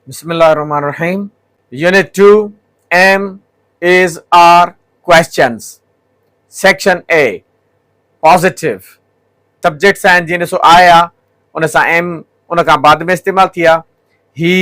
بسم الله الرحمن الرحيم unit two am is are questions section A positive subjects آهن جيئن ڏسو آء آ ان سان ايم ان کان بعد ۾ استعمال ٿي آ هي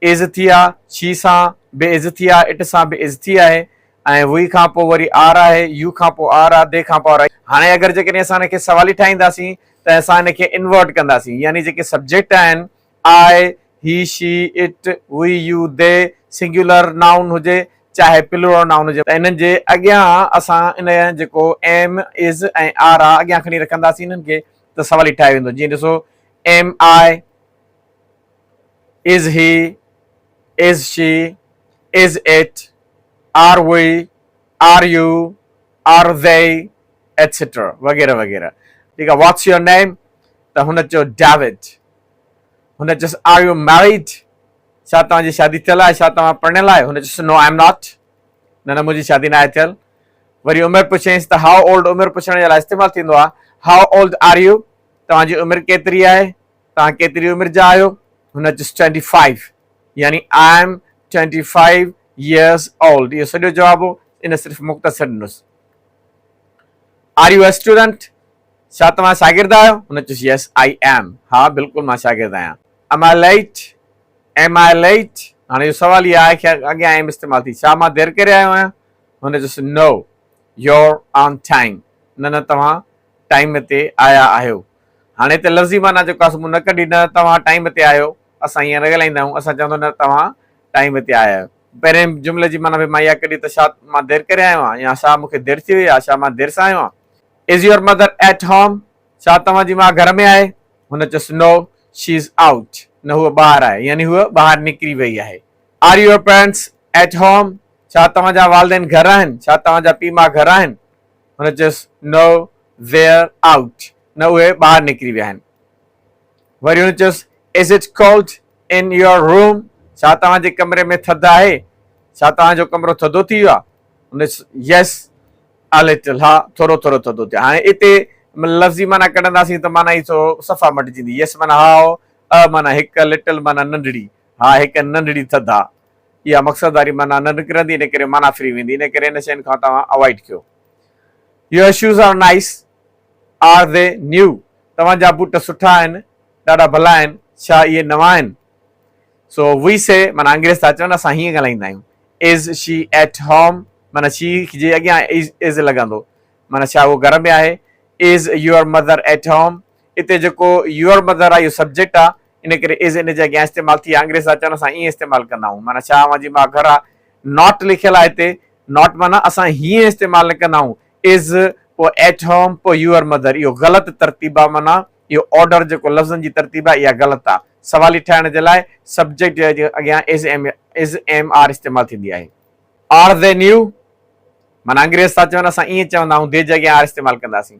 عزتي آ، شي سان بي عزتي آ، اٽ سان بي عزتي آهي ۽ وي کان پوء وري آر آهي، يو کان پوء آر آ، دي کان پوء آر آ. هاڻي اگر جيڪڏهن اسان هن کي سوالي ٺاهينداسين ته اسان هن کي انورٽ ڪنداسين يعني جيڪي سبجيڪٽ آهن I, he, she, it, we, you, they singular noun هجي چاهي پلورل نائون هجي ته انهن جي اڳيان اسان ان جيڪو ايم، از ۽ آر آ اڳيان کڻي رکنداسين انهن کي ته سوالي ٺاهيو ويندو جيئن ڏسو am I, is he, is she, is it, are we, are you, are they etcetera وغيره وغيره ٺيڪ آهي واٽس يور نيم ته هن چيو ڊيوڊ هن چيس آر يو ميريڊ ڇا توهان جي شادي ٿيل آهي ڇا توهان پرڻيل آهيو هن چيس نو آء ايم ناٽ نه نه منهنجي شادي ناهي ٿيل وري عمر پڇيس ته هاء اولڊ عمر پڇڻ جي لاء استعمال ٿيندو آهي هاء اولڊ آر يو توهان جي عمر ڪيتري آهي توهان ڪيتري عمر جا آهيو؟ هن اچيس ٽوئنٽي فائيو يعني I am twenty five years old اهو سڄو جواب هو ان صرف مختصر ڏنس. Are you a student? ڇا توهان شاگرد آهيو؟ هن چيس يس آء ايم ها بلڪل مان شاگرد آهيان. Am I late? Am I late? هاڻي اهو سوال ئي آء کي اڳيان ايم استعمال ٿي ڇا مان دير ڪري آيو آهيان؟ هن چيس نو يور آن ٽائيم نه نه توهان ٽائيم تي آيا آهيو. هاڻي ته لفظي معنيٰ جو ڪاسو مون نه ڪڍي نه توهان ٽائيم تي آهيو. اسان ائين نه ڳالهائيندا آهيون. اسان چوندو نه توهان ٽائيم تي آيا آهيو. پهرين جملي جي معنيٰ به مان اها ڪڍي ته شا مان دير ڪري آيو آهيان يا شا مون کي دير ٿي وئي آهي شا مان دير سان آيو آهيان. Is your mother at home؟ شا توهان جي ماء گهر ۾ آهي؟ هن چيس No she is out. نه هوء ٻاهر آهي يعني هوء ٻاهر نڪري وئي آهي. Are your parents at home؟ شا توهان جا والدين گهر آهن؟ شا توهان جا پيء ماء گهر آهن؟ هن چيس نو ويئر آئوٽ نه اهي ٻاهر نڪري ويا آهن. وري هن چيس is it cold in your room ڇا توهان جي ڪمري ۾ ٿڌ آهي؟ ڇا توهان جو ڪمرو ٿڌو ٿي ويو آهي؟ هن چيس يس آ لٽل ها ٿورو ٿورو ٿڌو ٿي هاڻي اتي لفظي معنيٰ ڪڍنداسين ته معنيٰ ئي صفا مٽجندي يس معنيٰ ها آهو آ معنيٰ هڪ لٽل معنيٰ ننڍڙي ها هڪ ننڍڙي ٿڌ آهي. اها مقصد واري معنيٰ نه نڪرندي ان ڪري معنيٰ ڦري ويندي ان ڪري ان شين کان توهان اوائيڊ ڪيو. Your shoes are nice. Are they new. توهان جا بوٽ سٺا آهن. ڏاڍا ڀلا آهن. ڇا اهي نوان آهن. So we say معنيٰ انگريز ٿا چون اسان هيئن ڳالهائيندا آهيون. Is she at home. معنيٰ she جي اڳيان is لڳندو معنيٰ ڇا هو گهر ۾ آهي. Is your mother at home. اتي جيڪو your mother آهي اهو سبجيڪٽ آهي. ان ڪري از ان جي اڳيان استعمال ٿي آنگريز اچڻ سان ائين استعمال ڪندا آهيون معنيٰ ڇا اوهان جي ماء گهر آهي ناٽ لکيل آهي هتي ناٽ معنيٰ اسان هيئن استعمال نه ڪندا آهيون از پوء ايٽ هوم پوء يوئر مدر اهو غلط ترتيب آهي معنيٰ اهو آرڊر جيڪو لفظن جي ترتيب آهي اها غلط آهي سوالي ٺاهڻ جي لاء سبجيڪٽ جي اڳيان is am is am are استعمال ٿيندي آهي آر دي نيو معنيٰ انگريز ٿا چون اسان ائين چوندا آهيون دي جي اڳيان آر استعمال ڪنداسين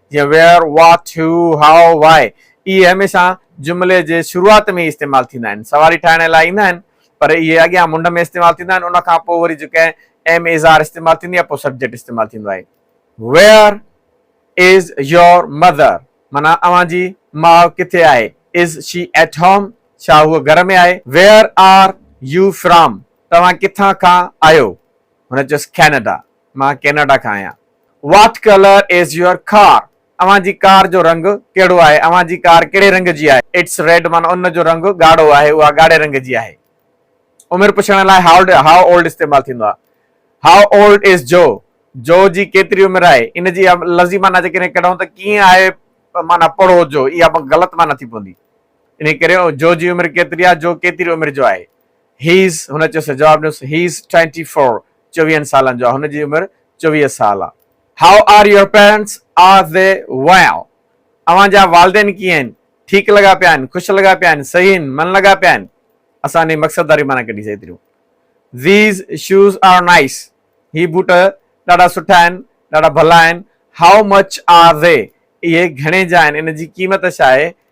جيئن Where، What، Who، How، Why اهي هميشه جملي جي شروعات ۾ ئي استعمال ٿيندا آهن. سواري ٺاهڻ لاء ايندا آهن پر اهي اڳيان منڍ ۾ استعمال ٿيندا آهن ان کان پوء وري جو ڪنهن ايم ايز آر استعمال ٿيندي آهي پوء سبجيڪٽ استعمال ٿيندو آهي. Where is your mother معنيٰ اوهان جي ماء ڪٿي آهي. Is she at home ڇا هوء گهر ۾ آهي. Where are you from توهان ڪٿان کان آهيو هن چيس Canada. مان ڪينيڊا کان آهيان. What colour is your car? اوهان جي ڪار جو رنگ ڪهڙو آهي؟ اوهان جي ڪار ڪهڙي رنگ جي آهي؟ اٽس ريڊ معنيٰ ان جو رنگ ڳاڙهو آهي، اها ڳاڙهي رنگ جي آهي. عمر پڇڻ لاء هاء اولڊ استعمال ٿيندو آهي. هاء اولڊ از جو؟ جو جي ڪيتري عمر آهي؟ ان جي لفظي معنيٰ جيڪڏهن ڪڍون ته ڪيئن آهي معنيٰ پڙهو جو اها غلط معنيٰ ٿي پوندي. انهيء ڪري جو جي عمر ڪيتري آهي جو ڪيتري عمر جو آهي. He is هن چيس جواب ڏنس He is twenty four چويهن سالن جو آهي هن جي عمر چويهه سال آهي. How are your parents Are they well اوهان جا والدين ڪيئن آهن ٺيڪ لڳا پيا آهن خوش لڳا پيا آهن صحيح آهن من لڳا پيا آهن اسان انهي مقصد واري معنيٰ ڪڍي سهي تريون These shoes are nice هي بوٽ ڏاڍا سٺا آهن ڏاڍا ڀلا آهن How much are they اهي گهڻي جا آهن ان جي قيمت ڇا آهي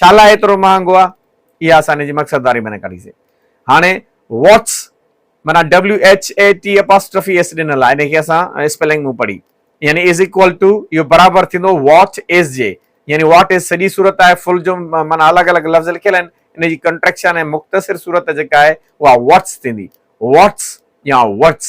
ڇالاء ايترو مهانگو آ اها اسان جي مقصد واري معنيٰ ڪڍي سي هاڻي واٽس معنيٰ WHATAPOSTROPHES ڏنل آ انهي کي اسان اسپيلنگ مون پڙهي يعني از ايڪوئل ٽو اهو برابر ٿيندو واٽ از جي يعني واٽ از سڄي صورت آهي فل جو معنيٰ الڳ الڳ لفظ لکيل آهن ان جي ڪنٽريڪشن ۽ مختصر صورت جيڪا آهي اها واٽس ٿيندي واٽس يا ورٽس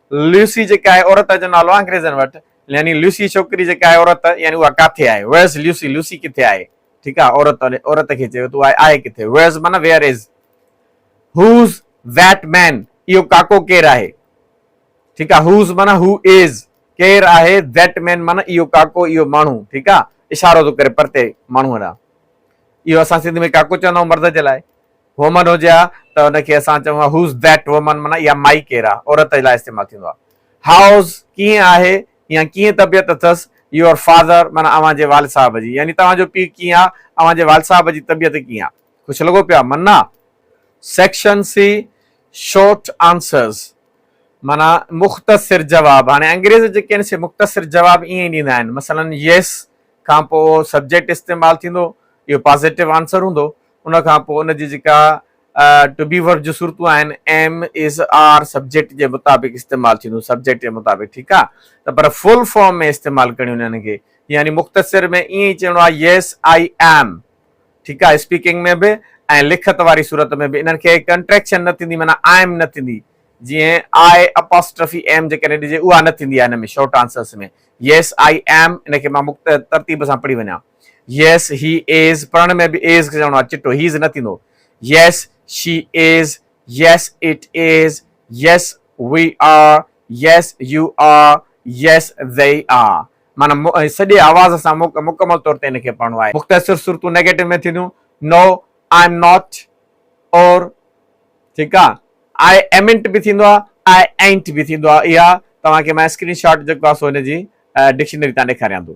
لوسي جيڪا آهي عورت جو نالو آهي انگريزن وٽ يعني لوسي ڇوڪري جيڪا آهي عورت يعني اها ڪاٿي آهي Where is Lucy لوسي ڪٿي آهي ٺيڪ آهي عورت عورت کي چيو ته اها آهي ڪٿي Where is معنيٰ Where is Who's that man اهو ڪاڪو ڪير آهي ٺيڪ آهي Who's معنيٰ Who is ڪير آهي That man معنيٰ اهو ڪاڪو اهو ماڻهو ٺيڪ آهي اشارو ٿو ڪري پرتي ماڻهو ڏانهن اهو اسان سنڌ ۾ ڪاڪو چوندا آهيون مرد جي لاء Woman هجي ها ته ان کي اسان چئون ها Who's that woman معنيٰ اها مائي ڪير آهي؟ عورت لاء استعمال ٿيندو آهي. How's ڪيئن آهي يا ڪيئن طبيعت اٿس Your father معنيٰ اوهان جي والد صاحب جي يعني توهان جو پيء ڪيئن آهي؟ اوهان جي والد صاحب جي طبيعت ڪيئن آهي؟ خوش لڳو پيو آهي؟ منا Section C Short Answers معنيٰ مختصر جواب هاڻي انگريز جيڪي آهن سي مختصر جواب ائين ئي ڏيندا آهن مثلاً Yes کان پوء سبجيڪٽ استعمال ٿيندو اهو پازيٽو آنسر هوندو ان کان پوء ان جي جيڪا ٽو بي ورب جون صورتون آهن ايم از آر سبجيڪٽ جي مطابق استعمال ٿينديون سبجيڪٽ جي مطابق ٺيڪ آ ته پر فل فارم ۾ استعمال ڪرڻيون انهن کي يعني مختصر ۾ ائين ئي چئڻو آهي يس آئي ايم ٺيڪ آ اسپيڪنگ ۾ به ۽ لکت واري صورت ۾ به انهن کي ڪنٽريڪشن نه ٿيندي معنيٰ ايم نه ٿيندي جيئن آئي اپاسٽرفي ايم جيڪڏهن ڏجي اها نه ٿيندي آهي هن ۾ short answers ۾ yes I am ان کي مان مخت ترتيب سان پڙهي وڃان Yes, he is پڙهڻ ۾ به is کي چوڻو آهي چٽو هيز نه ٿيندو Yes, she is Yes, it is Yes, we are Yes, you are Yes, they are معنيٰ سڄي آواز سان مڪمل طور تي ان کي پڙهڻو آهي مختصر صورتون نيگيٽو ۾ ٿينديون No, I am not Or ٺيڪ آهي I amn't به ٿيندو آهي I ain't به ٿيندو آهي اها توهان کي مان اسڪرين شاٽ جيڪو آهي سو هن جي ڊڪشنري تان ڏيکاريان ٿو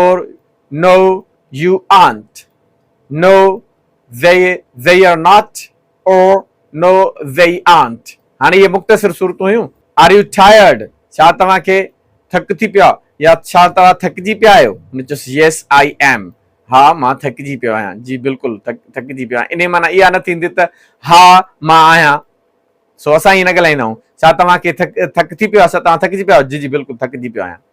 اور نو U آنٽ no we we are not or no we aren't هاڻي اهي مختصر صورتون هيون آر يو ٽائرڊ ڇا توهان کي ٿڪ ٿي پيو آهي يا ڇا توهان ٿڪجي پيا آهيو هن چيس ييس آئي ايم ها مان ٿڪجي پيو آهيان جي بلڪل ٿڪجي پيو آهيان انهي معنيٰ اها نه ٿيندي ته ها مان آهيان سو اسان ائين نه ڳالهائيندا آهيون ڇا توهان کي ٿڪ ٿڪ ٿي پيو آهي ڇا توهان ٿڪجي پيا آهيو جي جي بلڪل ٿڪجي پيو آهيان.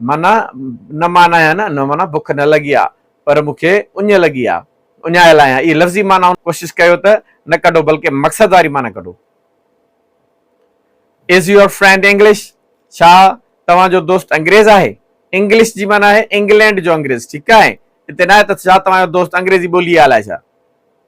معنيٰ، نه مان ناهيان نه نه معنيٰ بک نه لڳي آ پر مون کي اڃ لڳي آ، اڃايل آهيان اهي لفظي معنائون ڪوشش ڪيو ته نه ڪڍو بلڪه مقصد واري معنيٰ ڪڍو. Is your friend English؟ ڇا توهان جو دوست انگريز آهي؟ English جي معنيٰ آهي انگلينڊ جو انگريز ٺيڪ آهي اتي ناهي ته ڇا توهان جو دوست انگريزي ٻولي آهي الاء ڇا.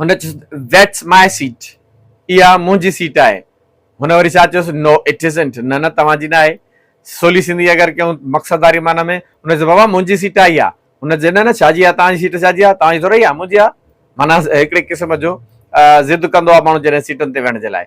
هن چيس That's my seat اها منهنجي سيٽ آهي. هن وري ڇا چيس No it isn't نه نه توهان جي نه آهي. سولي سنڌي اگر ڪيون مقصد واري معنيٰ ۾ هن چيس بابا منهنجي سيٽ آهي اها. هن چيس نه نه ڇا جي آهي توهان جي سيٽ ڇا جي آهي توهان جي ٿورئي آهي منهنجي آهي معنيٰ هڪڙي قسم جو ضد ڪندو آهي ماڻهو جڏهن سيٽن تي ويهڻ جي لاء.